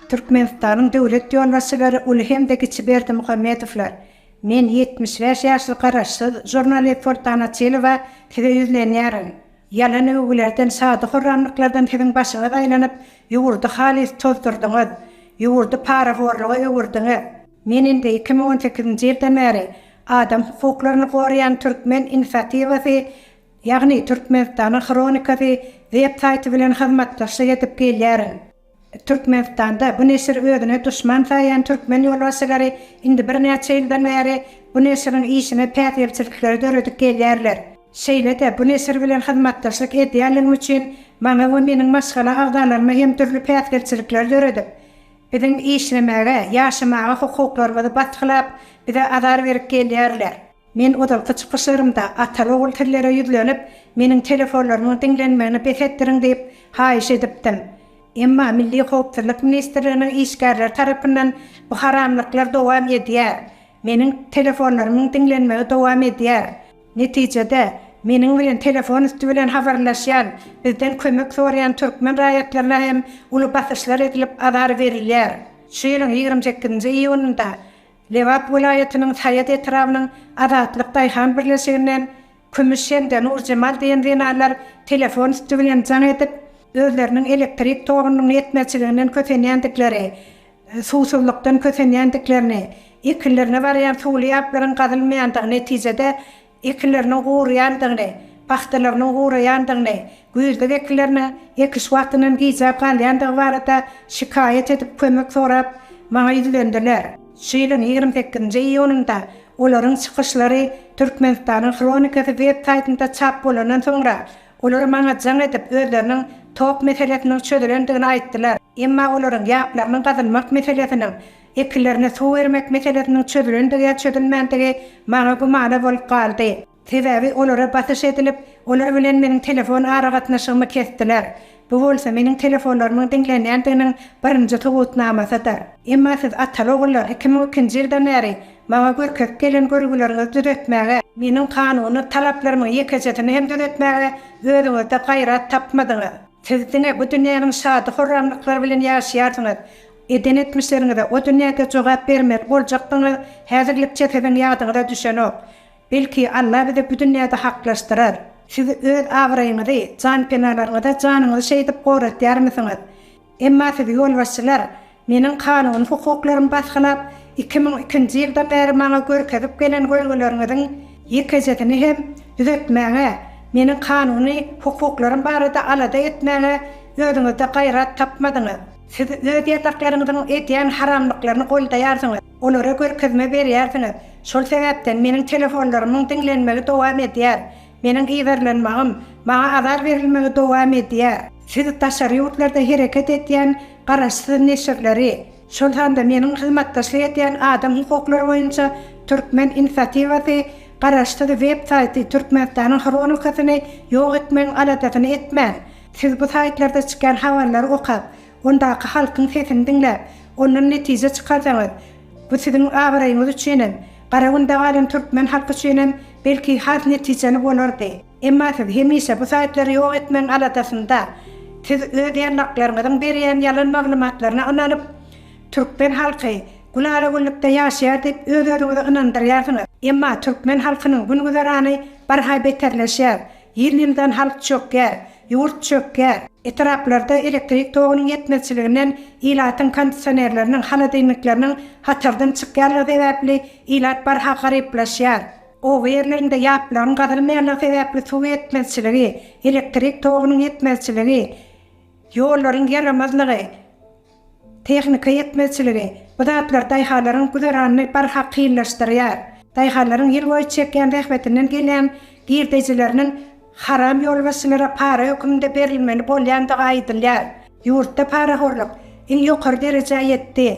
Türkmenistanyň döwlet ýolbaşçylary uly hem-de kiçi Berdimuhamedowlar, Men ýetmiş bäş ýaşly garaşsyz žurnalist Soltan Açylowa size ýüzlenýärin. Ýalan öwgülerden, şady-horramlyklardan siziň başyňyz aýlanyp, ýurdy halys tozdurdyňyz. Ýurdy parahorluga öwürdiňiz. Men indi iki müň on sekizinji ýyldan bäri adam hukuklaryny goraýan Türkmen inisiatiwasy, ýagny Türkmenistanyň hronikasy web saýty bilen hyzmatdaşlyk edip gelýärin. Türkmenistanda bu neşiri özüne duşman saýýan türkmen ýolbaşçylary indi birnäçe ýyldan bäri bu neşiriň işine päsgelçilikleri döredip gelýärler. Şeýle-de bu neşir bilen hyzmatdaşlyk edýänligim üçin maňa we meniň maşgala agzalaryma hem dürli päsgelçilikleri döredip, Biziň işlemäge, ýaşamaga hukuklarymyzy basgylap, bize azar berip gelýärler. Men ozalky çykyşlarymda ata-ogul sizlere ýüzlenip, meniň telefonlarymyň diňlenmegini bes etdiriň diýip, haýyş edipdim. Emma Milli howpsuzlyk ministrliginiň işgärleri tarapyndan bu haramlyklar dowam edýär. Meniň telefonlarymyň diňlenmegi dowam edýär. Netijede, meniň bilen telefon üsti bilen habarlaşýan, bizden kömek soraýan türkmen raýatlaryna hem uly basyşlar edilip, azar berilýär. Şu ýylyň ýigrimi sekizinji iýunynda Lebap welaýatynyň Saýat etrabynyň Azatlyk daýhan birleşiginden Kümüş hem-de Nurjemal diýen zenanlar telefon üsti bilen jaň edip, özleriniň elektrik togunyň ýetmezçiliginden kösenýändikleri, suwsuzlykdan kösenýändiklerini, ekinlerine barýan suwly ýaplaryň gazylmaýandygy netijede ekinleriniň guraýandygyny, pagtalarynyň guraýandygyny, güýzlük ekinleriniň ekiş wagtyndan gijäp galýandygy barada şikaýat edip, kömek sorap maňa ýüzlendiler. Şu ýylyň ýigrimi sekizinji iýunynda olaryň çykyşlary Türkmenistanyň hronikasy web saýtynda çap bolandan soňra, Olar maňa jaň edip, özleriniň tok meselesiniň çözülendigini aýtdylar. Emma olaryň ýaplarynyň gazylmak meselesiniň, ekinlerine suw bermek meselesiniň çözülendigi ýa çözülmändigi maňa gümana bolup galdy. Sebäbi olara basyş edilip, olar bilen meniň telefon aragatnaşygymy kesdiler. Bu bolsa meniň telefonlarymyň diňlenýändiginiň birinji subutnamasydyr. Emma siz ataly-ogullar iki müň ikinji ýyldan bäri maňa görkezip gelen görgüleriňizi düzetmäge, meniň kanuny talaplarymyň ýekejesini hem düzetmäge özüňizde gaýrat tapmadyňyz. Siz diňe bu dünýäniň şady-horramlyklary bilen ýaşaýarsyňyz. Eden etmişleriňize o dünýäde jogap bermeli boljakdygyňyz häzirlikçe siziň ýadyňyza düşenok. Belki Alla bizi bu dünýäde haklaşdyrar. Siz öz abraýyňyzy, janpenalaryňyza janyňyzy şeýdip goratýarmysyňyz? Emma sizi ýolbaşçylar meniň kanuny hukuklarymy basgylap, iki müň ikinji ýyldan bäri maňa görkezip gelen görgüleriňiziň ýekejesini hem düzetmäge, meniň kanuny hukuklarym barada alada etmäge özüňizde gaýrat tapmadyňyz. Siz öz ýataklaryňyzyň edýän haramlyklaryny goldaýarsyňyz. Olara görkezme berýärsiňiz. Şol sebäpden meniň telefonlarymyň diňlenmegi dowam edýär. Meniň yzarlanmagym, maňa azar berilmegi dowam edýär. Siz daşary ýurtlarda hereket edýän garaşsyz neşirleri, şol sanda meniň hyzmatdaşlyk edýän adam hukuklary boýunça Türkmen inisiatiwasy garaşsyz web saýty Türkmenistanyň hronikasyny ýok etmegiň aladasyny etmän, siz bu saýtlarda çykýan habarlary okap, Ondaky halkyň sesini diňläp, ondan netije çykarsaňyz, bu siziň abraýyňyz üçin hem, Garagünde galan türkmen halky üçin hem belki has netijeli bolardy. Emma siz hemişe bu saýtlary ýok etmegiň aladasynda. Siz öz ýarlaklaryňyzyň berýän ýalan maglumatlaryna ynanyp, türkmen halky gülala-güllükde ýaşaýar diýip öz-özüňizi ynandyrýarsyňyz. Emma türkmen halkynyň gün-güzerany barha beterleşýär. Ýyl-ýyldan halk çökýär. Ýurt çökýär. Etraplarda elektrik togunyň ýetmezçiliginden ilatyň kondisionerleriniň, holodilnikleriniň hatardan çykýanlygy sebäpli ilat barha garyplaşýar. Oba ýerlerinde ýaplaryň gazylmaýanlygy sebäpli suw ýetmezçiligi, elektrik togunyň ýetmezçiligi, ýollaryň ýaramazlygy, Tehnika ýetmezçiligi, bu zatlar daýhanlaryň güzeranyny barha kynlaşdyrýar. Daýhanlaryň ýyl boýy çekýän zähmetinden gelýän girdejileriniň haram ýolbaşçylara para höküminde berilmeli bolýandygy aýdylýar. Ýurtda parahorluk iň ýokary derejä ýetdi.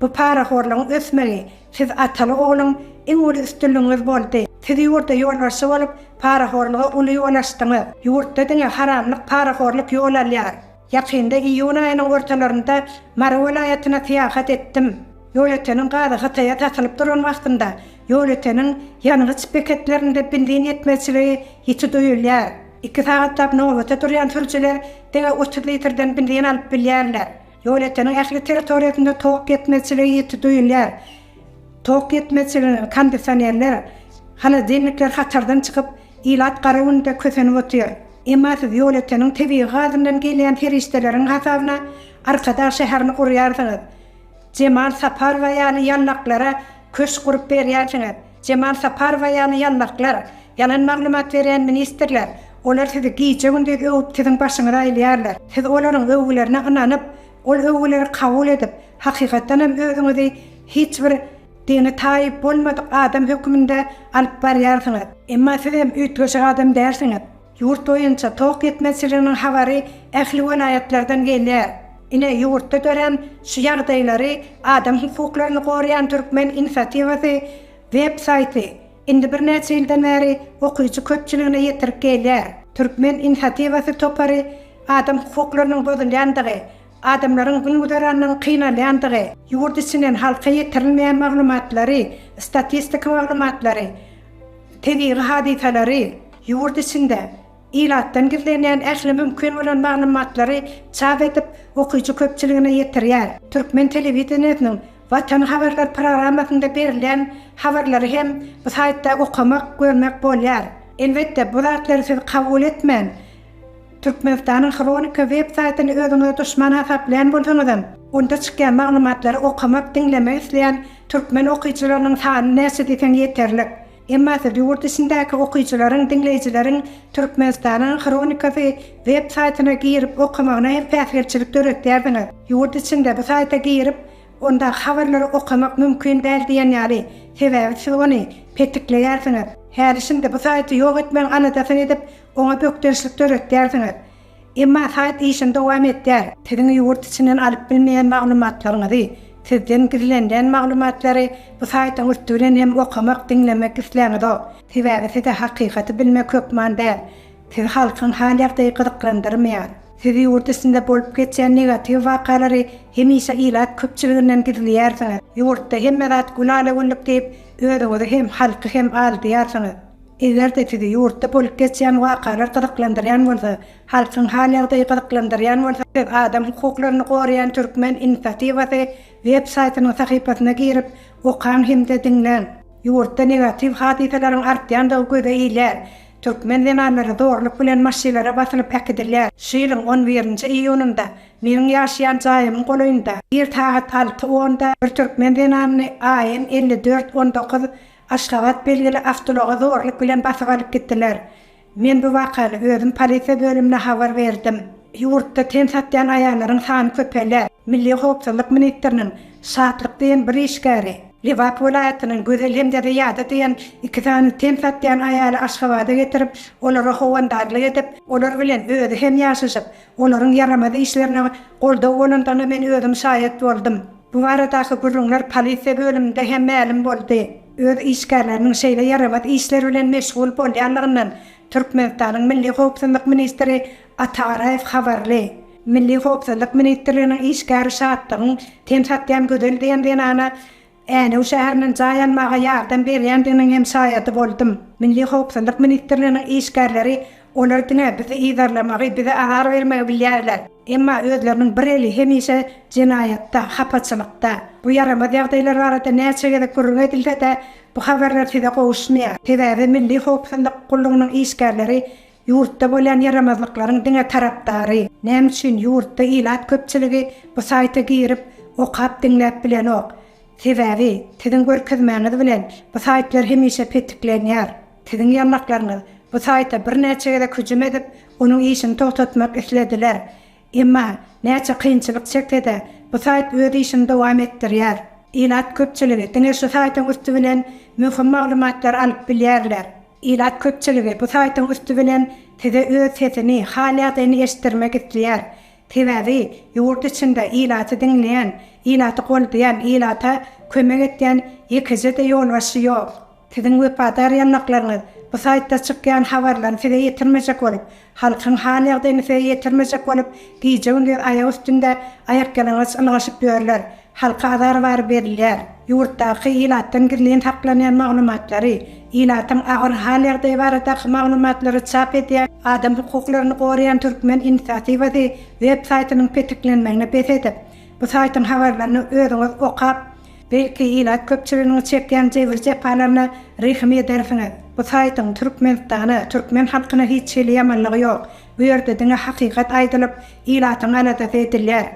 Bu parahorlugyň ösmegi siz ataly ogluň iň uly üstünligiňiz boldy. Siz ýurda ýolbaşçy bolup parahorluga uly ýol açdyňyz. Ýurtda diňe haramlyk parahorluk ýol alýar. Ýakynda iýun aýynyň ortalarynda Mary welaýatyna syýahat etdim. Ýolöteniň gazy Hytaýa satylyp duran wagtynda ýolöteniň ýangyç beketlerinde benzin ýetmezçiligi ýiti duýulýar. Iki sagatlap nobata durýan sürüjiler diňe otuz litrden benzin alyp bilýärler. Ýolöteniň ähli territoriýasynda tok ýetmezçiligi ýiti duýulýar. Tok ýetmezçiliginiň kondisionerler, holodilnikler hatardan çykyp, ilat gara günde kösenip otyr. Emma siz ýolöteniň tebigy gazyndan gelýän serişdeleriň hasabyna Arkadag şäherini gurýarsyňyz. Jemal Saparowa ýaly ýallaklara köşk gurup berýärsiňiz. Jemal Saparowa ýaly ýallaklar, ýalan maglumat berýän ministrler, olar sizi gije-gündiz öwüp siziň başyňyzy aýlaýarlar. Siz olaryň öwgülerine ynanyp, Ol öwgüleri kabul edip, hakykatdan hem özüňizi hiç bir dini taýyp bolmadyk adam höküminde alyp barýarsyňyz. Emma siz hem üýtgeşik adam dälsiňiz. Ýurt boýunça tok ýetmezçiliginiň habary ähli welaýatlardan gelýär. Ine, ýurtda dörän şu ýagdaýlary Adam hukuklaryny goraýan türkmen inisiatiwasy web saýty Indi birnäçe ýyldan bäri okyjy köpçüligine ýetirip gelýär. Türkmen inisiatiwasy topary adam hukuklarynyň bozulýandygy, adamlaryň gün-güzeranynyň kynalýandygy, ýurt içinden halka ýetirilmeýän maglumatlary, statistika maglumatlary, tebigy hadysalary ýurt içinde, Ilatdan gizlenýän ähli mümkin bolan maglumatlary çap edip, okyjy köpçüligine ýetirýär. Türkmen telewideniýesiniň Watan habarlar programmasynda berilýän habarlary hem bu saýtda okamak, görmek bolýar. Elbetde, bu zatlary siz kabul etmän, Türkmenistanyň Hronika web saýtyny özüňize duşman hasaplaýan bolsaňyzam, onda çykýan maglumatlary okamak, diňlemek isleýän türkmen okyjylarynyň sany näçe diýseň ýeterlik. Emmasy ýurt içindäki okyjylaryň, diňleýjileriň Türkmenistanyň hronikasy web saýtyna girip okamagyna hem päsgelçilik döretýärsiňiz. Ýurt içinde bu saýta girip, onda habarlary okamak mümkin däl diýen ýaly, sebäbi siz ony petikleýärsiňiz. Häli-şindi bu saýty ýok etmegiň aladasyny edip, oňa bökdençlik döretýärsiňiz. Emma saýt işini dowam etdýär. Siziň ýurt içinden alyp bilmeýän maglumatlaryňyzy, sizden gizlenilen maglumatlary bu saýtyň üsti bilen hem okamak, diňlemek isläňizok. Sebäbi size hakykaty bilmek hökman däl. Sizi halkyň hal-ýagdaýy gyzyklandyrmaýar. Siz ýurt içinde bolup geçýän negatiw wakalary hemişe ilat köpçüliginden gizleýärsiňiz. Ýurtda hemme zat gül-ala-güllük diýip, özüňizi hem, halky hem aldaýarsyňyz. Eger-de sizi ýurtda bolup geçýän wakalar gyzyklandyrýan bolsa, halkyň hal-ýagdaýy gyzyklandyrýan bolsa, siz adam hukuklaryny goraýan türkmen inisiatiwasy web saýtynyň sahypasyna girip, okaň hem-de diňläň. Ýurtda negatiw hadysalaryň artýandygy göze ilýär. Türkmen zenanlary zorluk bilen maşylara basylyp äkidilýär. Şu ýylyň on birinji iýunynda meniň ýaşaýan jaýymyň golaýynda, ir sagat alty onda bir türkmen zenanyny AN elli dört on dokuz Aşgabat belgili awtoulaga zorluk bilen basyp alyp gitdiler. Men bu wakany özüm polisiýa bölümine habar berdim. Ýurtda ten satýan aýallaryň sany köpelýär. Milli howpsuzlyk ministriniň Şatlyk diýen bir işgäri Lebap welaýatynyň Gözel hem-de Zyýada diýen iki sany ten satýan aýaly Aşgabada getirip, olara howandarlyk edip, olar bilen özi hem ýaşaşyp, olaryň ýaramaz işlerine goldaw bolandygyna men özüm şaýat boldum. Bu baradaky gürrüňler polisiýa bölüminde hem mälim boldy. Öz işgärleriniň şeýle ýaramaz işler bilen meşgul bolýanlygyndan Türkmenistanyň Milli howpsuzlyk ministri Ata Garaýew habarly. Milli howpsuzlyk ministrliginiň işgäri Şatlygyň ten satýan Gözel diýen zenana Änew şäherinden jaý almaga ýardam berýändiginiň hem şaýady boldum. Milli howpsuzlyk ministrliginiň işgärleri olar diňe bizi yzarlamagy, bize azar bermegi bilýärler. Emma özleriniň bir eli hemişe jenaýatda, hapaçylykda. Bu ýaramaz ýagdaýlar barada näçe gezek gürrüň edilse-de, bu habarlar size gowuşmaýar. Sebäbi Milli howpsuzlyk gullugynyň işgärleri ýurtda bolýan ýaramazlyklaryň diňe tarapdary. Näme üçin ýurtda ilat köpçüligi bu saýta girip, okap, diňläp bilenok? Sebäbi, siziň görkezmäňiz bilen, bu saýtlar hemişe petiklenýär. Siziň ýanlaklaryňyz bu saýta birnäçe gezek hüjüm edip, onuň işini togtatmak islediler. Emma, näçe kynçylyk çekse-de, bu saýt öz işini dowam etdirýär. Ilat köpçüligi diňe şu saýtyň üsti bilen möhüm maglumatlary alyp bilýärler. Ilat köpçüligi bu saýtyň üsti bilen size öz sesini, hal-ýagdaýyny eşitdirmek isleýär. Sebäbi, ýurt içinde ilaty diňleýän, ilaty goldaýan, ilata kömek edýän ýekeje-de ýolbaşçy ýok. Siziň wepadar ýanlaklaryňyz bu saýtda çykýan habarlaryny size ýetirmejek bolup, halkyň hal-ýagdaýyny size ýetirmejek bolup, gije-gündiz aýak üstünde aýakýalaňaç ylgaşyp ýörler. Halka azar bary berilýär. Ýurtdaky ilatdan gizlin saklanýan maglumatlary, ilatyň agyr hal-ýagdaýy baradaky maglumatlary çap edýän, Adam hukuklaryny goraýan Türkmen inisiatiwasy web saýtynyň petiklenmegini bes edip, bu saýtyň habarlaryny özüňiz okap, Belki ilat köpçüliginiň çekýän jebir-jepalaryna rehim edersiňiz. Bu saýtyň Türkmenistana, türkmen halkyna hiç hili ýamanlygy ýok. Bu ýerde diňe hakykat aýdylyp, ilatyň aladasy edilýär.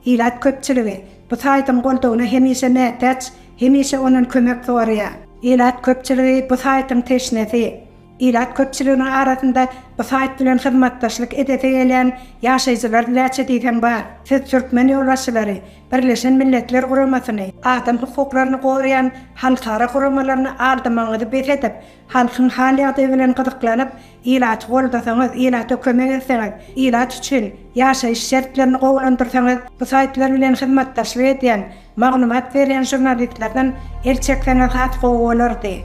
Ilat köpçüligi bu saýtyň goldawyna hemişe mätäç, hemişe ondan kömek soraýar. Ilat köpçüligi bu saýtyň teşnesi. Ilat köpçüliginiň arasynda bu saýt bilen hyzmatdaşlyk edesi gelýän ýaşaýjylar näçe diýseň bar. Siz türkmen ýolbaşçylary, Birleşen Milletler Guramasyny, adam hukuklaryny goraýan halkara guramalaryny aldamagyňyzy bes edip, halkyň hal-ýagdaýy bilen gyzyklanyp, ilaty goldasaňyz, ilata kömek etseňiz, ilat üçin ýaşaýyş şertlerini gowulandyrsaňyz, bu saýtlar bilen hyzmatdaşlyk edýän Maglumat berýän žurnalistlerden el çekseňiz has gowy bolardy.